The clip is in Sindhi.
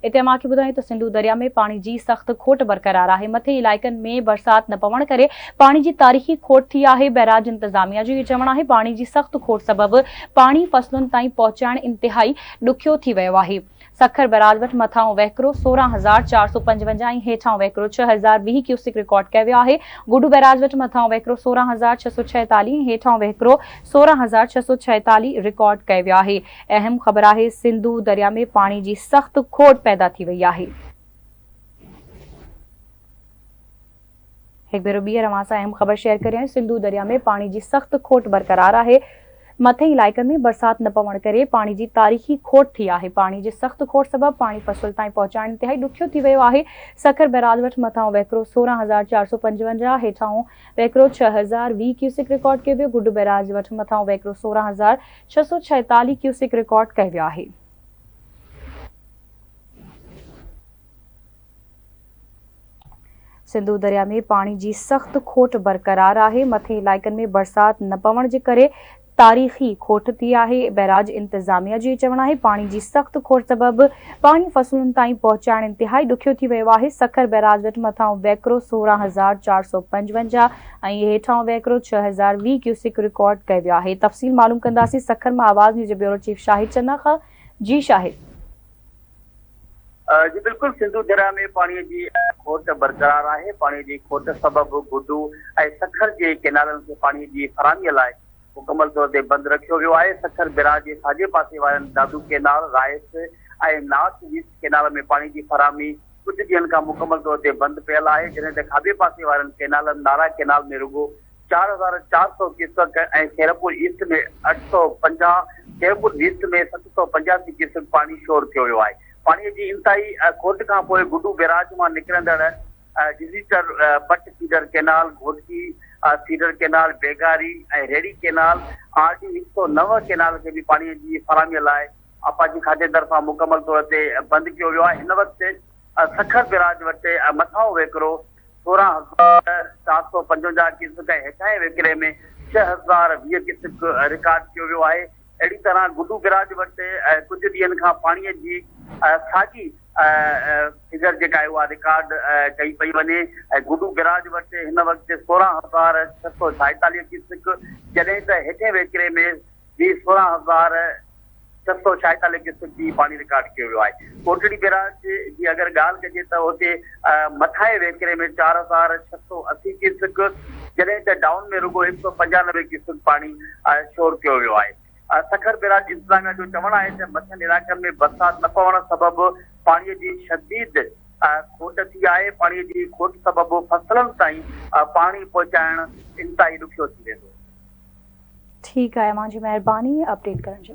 اتي اوهان کي ٻڌايون ته سنڌو درياء ۾ پاڻي جي سخت کوٽ برقرار آهي، مٿين علائقن ۾ برسات نه پوڻ ڪري پاڻي جي تاريخي کوٽ ٿي آهي، بئراج انتظاميا جو اهو چوڻ آهي پاڻي جي سخت کوٽ سبب پاڻي فصلن تائين پهچائڻ انتهائي ڏکيو ٿي ويو آهي، سکر بئراج وٽ مٿانهون وهڪرو سورهن هزار چار سؤ پنجونجاهه ۽ هيٺانهون وهڪرو ڇهه هزار ويهه ڪيوسڪ رڪارڊ ڪيو ويو آهي، گڊو بئراج وٽ مٿانهون وهڪرو سورهن هزار ڇهه سؤ ڇهيتاليهه ۽ هيٺانهون وهڪرو سورهن هزار ڇهه سؤ ڇهيتاليهه رڪارڊ ڪيو ويو آهي. اهم خبر آهي سنڌو دريا ۾ پاڻي جي سخت کوٽ پيدا ٿي وئي آهي. هڪ ڀيرو ٻيهر اوهان سان اهم خبر شيئر ڪريان سنڌو دريا ۾ پاڻي جي سخت کوٽ برقرار آهي مٿئين علائقن ۾ برسات نه پوڻ ڪري پاڻي جي تاريخي کوٽ ٿي آهي پاڻي جي سخت کوٽ سبب پاڻي فصل تائين پهچائڻ انتهائي ڏکيو ٿي ويو آهي سکر بئراج وٽ مٿانهون وهڪرو سورهن هزار چار سؤ پنجونجاهه هيٺاهون وهڪرو ڇهه هزار ويهه ڪيوسڪ رڪارڊ ڪيو ويو گڊ بئراج وٽ مٿانهون وهڪرو سورهن هزار ڇهه سؤ ڇايتاليهه ڪيوسڪ رڪارڊ ڪئي ويو آهي. سنڌو درياء ۾ پاڻي جي سخت کوٽ برقرار آهي، مٿين علائقن ۾ برسات نه پوڻ جي ڪري تاريخي کوٽ ٿي آهي، بئراج انتظاميا جو چوڻ آهي پاڻي جي سخت کوٽ سبب پاڻي فصلن تائين پهچائڻ انتهائي ڏکيو ٿي ويو آهي، سکر بئراج وٽ مٿانهون ويڪرو سورهن هزار چار سؤ پنجونجاهه ۽ اهي هيٺاهون وهڪرو ڇهه هزار ويهه ڪيوسڪ رڪارڊ ڪئي ويو آهي تفصيل معلوم ڪنداسين سکر مان آواز نيوز جي بيورو چيف شاهد چنخ جي شاهد. جي بلڪل سنڌو درياء ۾ پاڻي جي کوٽ برقرار آهي پاڻي جي کوٽ سبب گڊو ۽ سکر جي ڪينالن کي پاڻي جي فراهمي لاء مڪمل طور تي بند رکيو ويو آهي، سکر بئراج جي ساڄي پاسي وارن Dadu canal, rice ۽ north west canal ۾ پاڻي جي فراهمي ڪجهه ڏينهن کان مڪمل طور تي بند پيل آهي، جڏهن ته کاٻي پاسي وارن ڪئنالن نارا ڪئنال ۾ رڳو چار هزار چار سؤ ڪيوسڪ ۽ خيرپور ايسٽ ۾ اٺ سؤ پنجاهه، خيرپور ويسٽ ۾ ست سؤ پنجاسي ڪيوسڪ پاڻي شور ٿيو ويو آهي. پاڻي جي انتهائي کوٽ کانپوء گڊو بئراج مان نڪرندڙ جزيچر، بٽ feeder canal, Ghotki feeder canal, Begari ۽ هيڙي ڪئنال، آر ڊي هڪ سؤ نو ڪئنال کي به پاڻي جي فراهمي لاء آبپاشي کاتي طرفان مڪمل طور تي بند ڪيو ويو آهي، هن وقت سکر بئراج وٽ مٿانهون وهڪرو سورهن هزار چار سؤ پنجونجاهه ڪيوسڪ ۽ هيٺاهين وهڪري ۾ ڇهه هزار ويهه ڪيوسڪ رڪارڊ ڪيو ويو آهي. اهڙي طرح گڊو گراج وٽ ڪجهه ڏينهن کان پاڻي جي ساڳي فگر جيڪا آهي اها رڪارڊ ڪئي پئي وڃي ۽ گڊو گراج وٽ هن وقت سورهن هزار ڇهه سؤ ڇائيتاليهه ڪيسڪ جڏهن ته هيٺين وهڪري ۾ به سورهن هزار ڇهه سؤ ڇائيتاليهه ڪيسڪ ئي پاڻي رڪارڊ ڪيو ويو آهي. ڪوٽڙي بيراج جي اگر ڳالهه ڪجي ته اتي مٿانهين وهڪري ۾ چار هزار ڇهه سؤ اسي ڪيوسڪ جڏهن ته ڊائون ۾ رڳو هڪ سؤ پنجانوي ڪيوسڪ پاڻي شور ڪيو ويو آهي. سکر بيراج انتظاميا جو چوڻ آهي ته مٿين علائقن ۾ برسات نه پوڻ سبب پاڻي جي شديد کوٽ ٿي آهي، پاڻي جي کوٽ سبب فصلن تائين پاڻي پهچائڻ انتهائي ڏکيو ٿي ويندو. ٺيڪ آهي امان جي مهرباني اپڊيٽ ڪرڻ جي لاء.